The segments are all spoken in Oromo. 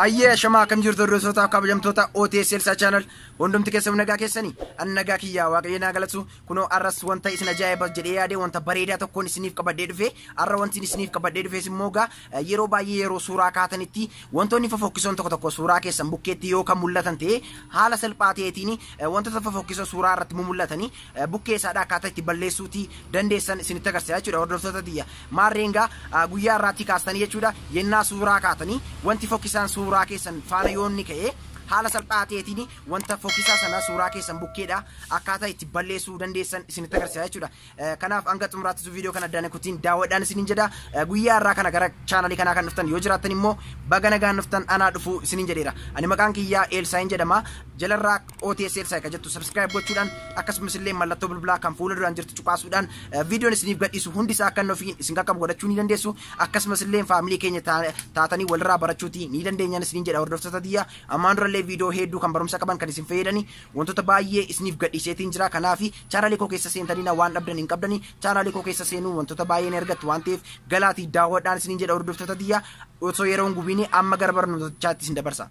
Ayyee ashamaa akkam jirtu hordoftoota kabajamtoota OTS Elsaa Channel hundumti keessan nagaa keessanii an nagaa kiyyaa waaqayyo naa galatu kunoo arras wanta isin ajaa'iba jedhee yaade wanta bareedaa tokkoon isiniif qabadhee dhufe arra wanti isiniif qabadhee dhufes immoo gaa yeroo baay'ee yeroo suuraa kaatanitti wantoonni fofokkisoon tokko tokko suuraa keessan bukkeetti yoo kan mul'atan ta'e haala salphaa ta'eetiin wantoota fofokkisoo suuraa irratti mul'atanii bukkee isaadha akkaataa itti balleessuuti dandeessan isinitti agarsiisa jechuudha hordoftoota tiyya maarreen gaa guyyaa irraatti kaastanii jechuudha yennaa suuraa kaatanii wanti fokkisaan suuraa keessan faana yoonni ka'ee haala salphaa ta'eetiin wanta fokkisaa sana suuraa keessan bukkeedha akkaataa itti balleessuu dandeessan isinitti agarsiisa jechuudha. Kanaaf hanga xumuraattis viidiyoo kana addaan kutiin daawwadhaan isiniin jedha. Guyyaa irraa kana gara chaanalii kanaa kan dhuftan yoo jiraattan immoo baga nagaan dhuftan anaa dhufuu isiniin jedheera. Ani maqaan kiyyaa Eelsaayin jedhama. Jalarraa OTS Elsa kan jettu subscribe gochuudhaan akkasumas illee mallattoo bilbilaa kan fuula duraan jirtu cuqaasuudhaan viidiyoon isiniif gadhiisu hundi isaa akka nuuf isin qaqqabu godhachuu ni dandeessu akkasumas illee faamilii keenya taatanii walirraa barachuuti ni dandeenyaan isiniin jedha hordoftoota tiyya ammaan dura illee viidiyoo hedduu kan barumsa qaban kan isin fayyadani wantoota baay'ee isiniif gadhiiseetiin jira kanaaf chaanaalii koo keessa seentaniina waan dhabdan hin qabdani chaanaalii koo keessa seenuu wantoota baay'ee ni argattu waan ta'eef galaatii daawwadhaan isiniin jedha hordoftoota tiyya osoo yeroo hin gubiinii amma gara barnootaatti isin dabarsa.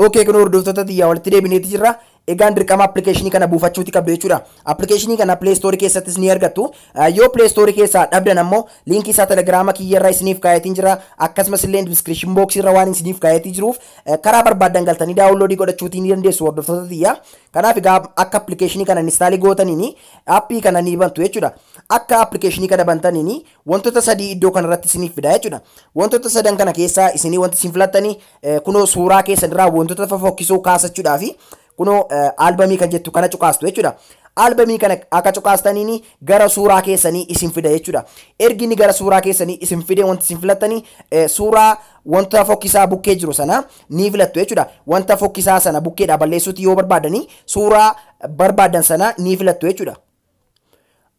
Okay kun hordoftoota tiyyaa walitti deebineeti jirra. Egaan dirqama appilikeeshinii kana buufachuuti qabdu jechuudha. Appilikeeshinii kana Play Store keessattis ni argattu. Eh, Yoo Play Store keessaa dhabdan ammoo liinkii isaa Telegraama kiyyarra isiniif kaayetiin jira. Akkasumas illee description box irra waan isiniif kaayetii jiruuf eh, karaa barbaaddan galtanii daawunloodii godhachuutii ni dandeessu hordoftoota tiyyaa. Kanaaf egaa akka appilikeeshinii kana instaalii gootaniin appii kana ni bantu jechuudha. Akka appilikeeshinii kana bantaniin wantoota sadii iddoo kanarratti isiniif fida jechuudha. Wantoota sadan kana keessaa isinii wanti isin filattanii eh, kunoo suuraa keessanirraa wantoota fofokkisoo kaasachuudhaa fi kunoo eh, albamii kan jettu kana cuqaastu jechuudha. Albamii kana akka cuqaastaniin gara suuraa keessanii isin fida jechuudha. Ergi inni gara suuraa keessanii isin fide wanti isin filattanii eh, suuraa wanta fokkisaa bukkee jiru sana ni filattu jechuudha. Wanta fokkisaa sana bukkeedhaa balleessuutti yoo barbaadanii suuraa barbaadan sana ni filattu jechuudha.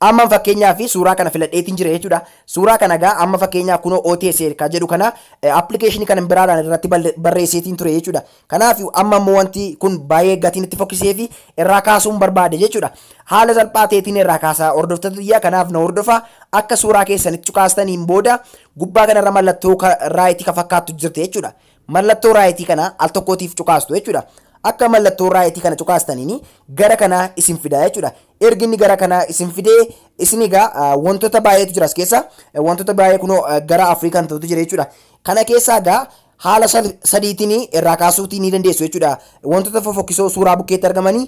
Amma fakkeenyaa fi suuraa kana filadheetiin jira jechuudha. Suuraa kana egaa amma fakkeenyaa kunoo OTS kan jedhu kana appilikeeshinii kana biraadhaan irratti barreesseetiin ture jechuudha. Kanaaf amma immoo wanti kun baay'ee gatiin itti fokkisee fi irraa kaasuun barbaade jechuudha. Haala salphaa ta'eetiin irraa kaasaa hordoftoota biyyaa kanaaf na hordofaa akka suuraa keessanitti cukaastaniin booda gubbaa kanarra mallattoo raayitii kan fakkaattu jirti jechuudha. Mallattoo raayitii kana al tokkootiif cuqaastu jechuudha. Akka mallattoo raayitii kana cuqaastaniin gara kanaa isin fidaa jechuudha. Ergi inni gara kanaa isin fidee isin egaa wantoota baay'eetu jira as keessa. Wantoota baay'ee kunoo gara afurii kan ta'utu jira jechuudha. Kana keessaa egaa haala sadiitiin irraa kaasuutii ni dandeessu jechuudha. Wantoota fofokkisoo suuraa bukkeetti argamanii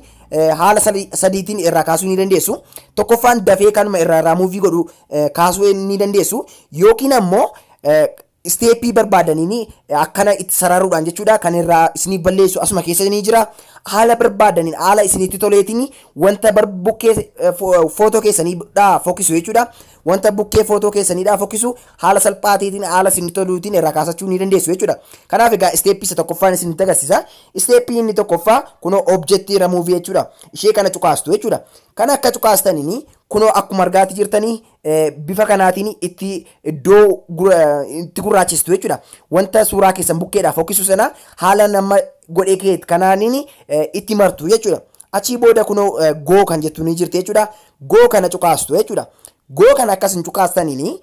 haala sadiitiin irraa kaasuu ni dandeessu. Tokkoffaan dafee kanuma irraa irraa muuvii godhu kaasuu ni dandeessu. Yookiin ammoo Isteeppii barbaadaniin akkana itti sararuudhaan jechuudha kan irraa isiniif balleessu asuma keessa ni jira. Haala barbaadaniin haala isinitti toleetiin wanta bar- bukkee eh, fo- footoo keessaniidhaa fokkisu jechuudha. Wanta bukkee footoo keessaniidhaa fokkisu haala salphaa ta'eetiin haala isinitti toluutiin irraa kaasachuu ni dandeessu jechuudha. Kanaaf egaa isteeppii isa tokkoffaan isinitti agarsiisa. Isteeppii inni tokkoffaa kunoo objektii ramuuvii jechuudha. Ishee kana cuqaastu jechuudha. Kana akka cuqaastaniin kunoo akkuma argaati jirtanii bifa kanaatiin itti iddoo itti gurraachistu jechuudha. Wanta suuraa keessan bukkeedhaa fokkisu sana haala nama godhee kee kanaaniin itti martu jechuudha. Achii booda kunoo goo kan jettu ni jirti jechuudha. Goo kana cuqaastu jechuudha. Goo kana akkas hin cuqaastaniin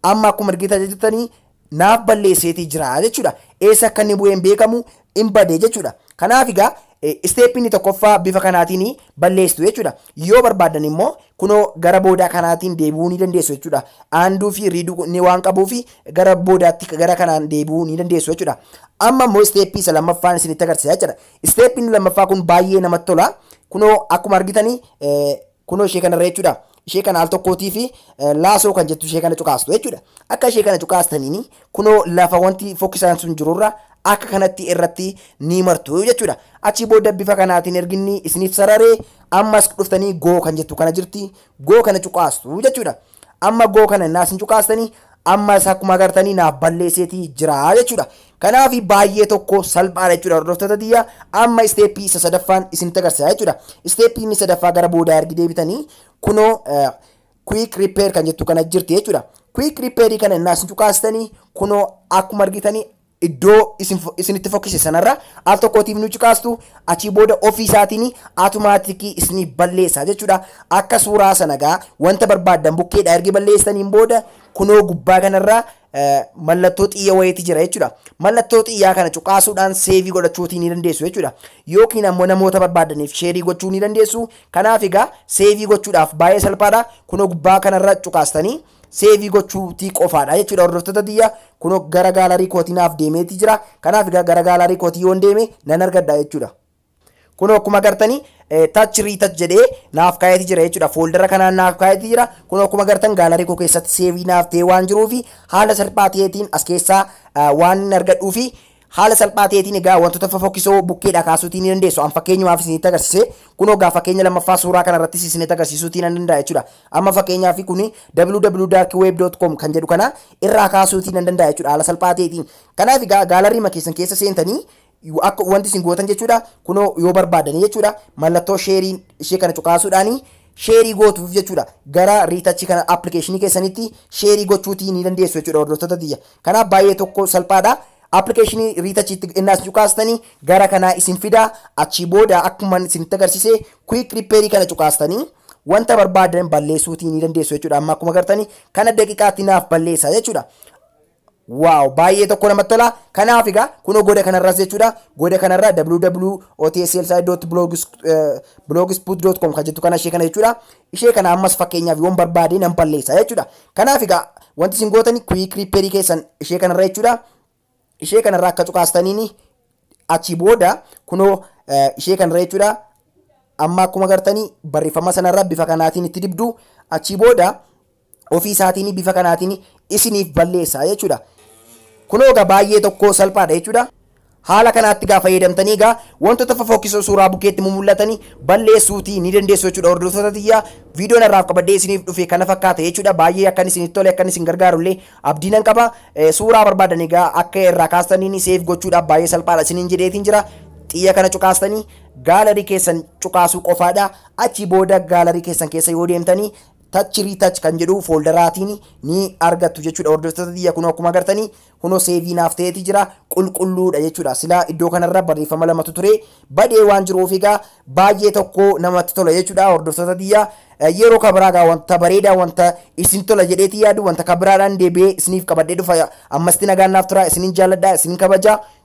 amma akkuma argitan jirtanii naaf balleesseetii jira jechuudha. Eessa akka inni bu'ee hin beekamu hin bade jechuudha. Kanaaf egaa isteeppii inni tokkoffaa bifa kanaatiin balleessitu jechuudha. Yoo barbaaddan immoo kunoo gara boodaa kanaatiin deebi'uu ni dandeessu jechuudha. Aanduu fi riiduu inni waan qabuuf gara boodaatti gara kanaan deebi'uu ni dandeessu jechuudha. Amma immoo isteeppii isa lammaffaan isinitti agarsiisa jechuudha. Isteeppiin lammaffaa kun baay'ee namatti tola. Kunoo akkuma argitanii Kunoo ishee kanarra jechuudha. Ishee kana al tokkootii fi laasoo kan jettu ishee kana cuqaastu jechuudha. Akka ishee kana cuqaastaniin kunoo lafa wanti fokkisaan sun jirurra akka kanatti irratti ni martu jechuudha. Achii booda bifa kanaatiin erginni isiniif sararee ammas dhuftanii goo kan jettu kana jirti. Goo kana cuqaastu jechuudha. Amma go kana innaa isin cuqaastanii ammas akkuma agartanii naaf balleesseeti jira jechuudha. Kanaaf baay'ee tokko salphaadha jechuudha hordoftoota tiyya amma isteeppii isa sadaffaan isinitti agarsiisa jechuudha. Isteeppii inni sadaffaa gara boodaa ergi deebitanii kunoo quick repair kan jettu kana jirti jechuudha. Quick repair kana innaa isin cuqaastanii kunoo akkuma argitanii Iddoo isin fo- isin itti fokkise sanarra al tokkootiif nu ciqaastu achii booda ofii isaatiin atumaatikii isinii balleessa jechuudha. Akka suuraa sana gaa wanta barbaaddan bukkeedha ergi balleessaniin booda kunoo gubbaa kanarra eh, mallattoo xiyya wayiiti jira jechuudha. Mallattoo xiyyaa kana cuqaasuudhaan seevii godhachuutii ni dandeessu jechuudha. Yookiin ammoo namoota barbaaddaniif sheerii gochuu ni dandeessu. Kanaaf egaa seevii gochuudhaaf baay'ee salphaadha. Kunoo gubbaa kanarra cuqaastanii Seevii gochuutii qofaadha jechuudha hordoftoota tiyya kunoo gara gaalarii kootii naaf deemeetii jira kanaaf egaa gara gaalarii kootii yoon deeme nan argadha jechuudha. Kunoo akkuma agartani tach riitach jedhee naaf kaa'eeti jira jechuudha. Fooldara kanaan naaf kaa'eeti jira. Kunoo akkuma agartan gaalarii koo keessatti seevii naaf ta'ee waan jiruufi haala salphaa ta'eetiin as keessaa waan hin argadhuufi Haala salphaa ta'eetiin egaa wantoota fofokkisoo bukkeedhaa kaasuutii ni dandeessu. An fakkeenyumaaf isinitti agarsiise. Kunoo egaa fakkeenya lammaffaa suuraa kana irrattis isinitti agarsiisuutii nan danda'a jechuudha. Amma fakkeenyaaf kun www.darkweb.com kan jedhu kana irraa kaasuutii nan danda'a jechuudha haala salphaa ta'eetiin. Kanaaf egaa gaalarriima keessan keessa seentanii akka wanti isin gootan jechuudha kunoo yoo barbaadanii jechuudha mallattoo sheerii ishee kana cuqaasuudhaanii sheerii gootuuf jechuudha gara riitachi kana appilikeeshinii keessanitti sheerii gochuutii ni dandeessu jechuudha hordoftoota tiyya Kanaaf baay'ee tokko salphaadha. Application retouch itti ennaa isin cuqaastanii gara kanaa isin fida. Achii booda akkuma isin agarsiise quick repair kana cuqaastanii wanta barbaadan balleessuutii ni dandeessu jechuudha. Amma akkuma agartanii kana daqiiqaatti naaf balleessa jechuudha. Waaw baay'ee tokko namatti tola. Kanaaf egaa kunoo goda kanarras jechuudha. Goda kanarra www.otslside.blogspot.com kan jettu kana ishee kana jechuudha. ishee kana ammas fakkeenyaaf yoon barbaade nan balleessa jechuudha. Kanaaf egaa wanti isin gootani quick repair keessan ishee kanarra jechuudha. Ishee kanarra akka cuqaastaniin achi booda kunoo ishee kanarra jechuudha. Amma akkuma gartanii barreeffama sanarra bifa kanaatiin itti dibdu achi booda ofii isaatiin bifa kanaatiin isiniif balleessa jechuudha. Kunoo egaa baay'ee tokko salphaadha jechuudha. Haala kanaatti egaa fayyadamtanii egaa wantoota fofokkisoo suuraa bukeetti mul'atanii balleessuutii ni dandeessu jechuudha. Hordoftoota tiyyaa viidiyoon irraaf qabadee isiniif dhufe kana fakkaata jechuudha. Baay'ee akkan isinitti tole akkan isin gargaarullee abdiinan qaba. Suuraa barbaadan egaa akka irraa kaastaniin seef gochuudhaaf baay'ee salphaadha isiniin jedheetiin jira. Xiyya kana cuqaastanii gaalarii keessan cuqaasuu qofaadha. Achi booda gaalarii keessan keessa yoo deemtanii Touch retouch kan jedhu fooldaraatiin ni argattu jechuudha hordoftoota tiyya kunoo akkuma agartanii kunoo seevii naaf ta'eeti jira qulqulluudha jechuudha silaa iddoo kanarra barreeffama lamatu ture badee waan jiruuf egaa baay'ee tokko namatti tola jechuudha hordoftoota tiyya yeroo kabiraa egaa wanta bareedaa wanta isin tola jedheeti yaadu wanta kabiraadhaan deebi'ee isiniif qabadhee dhufa ammasti nagaan naaf tura isinin jaalladha isinin kabaja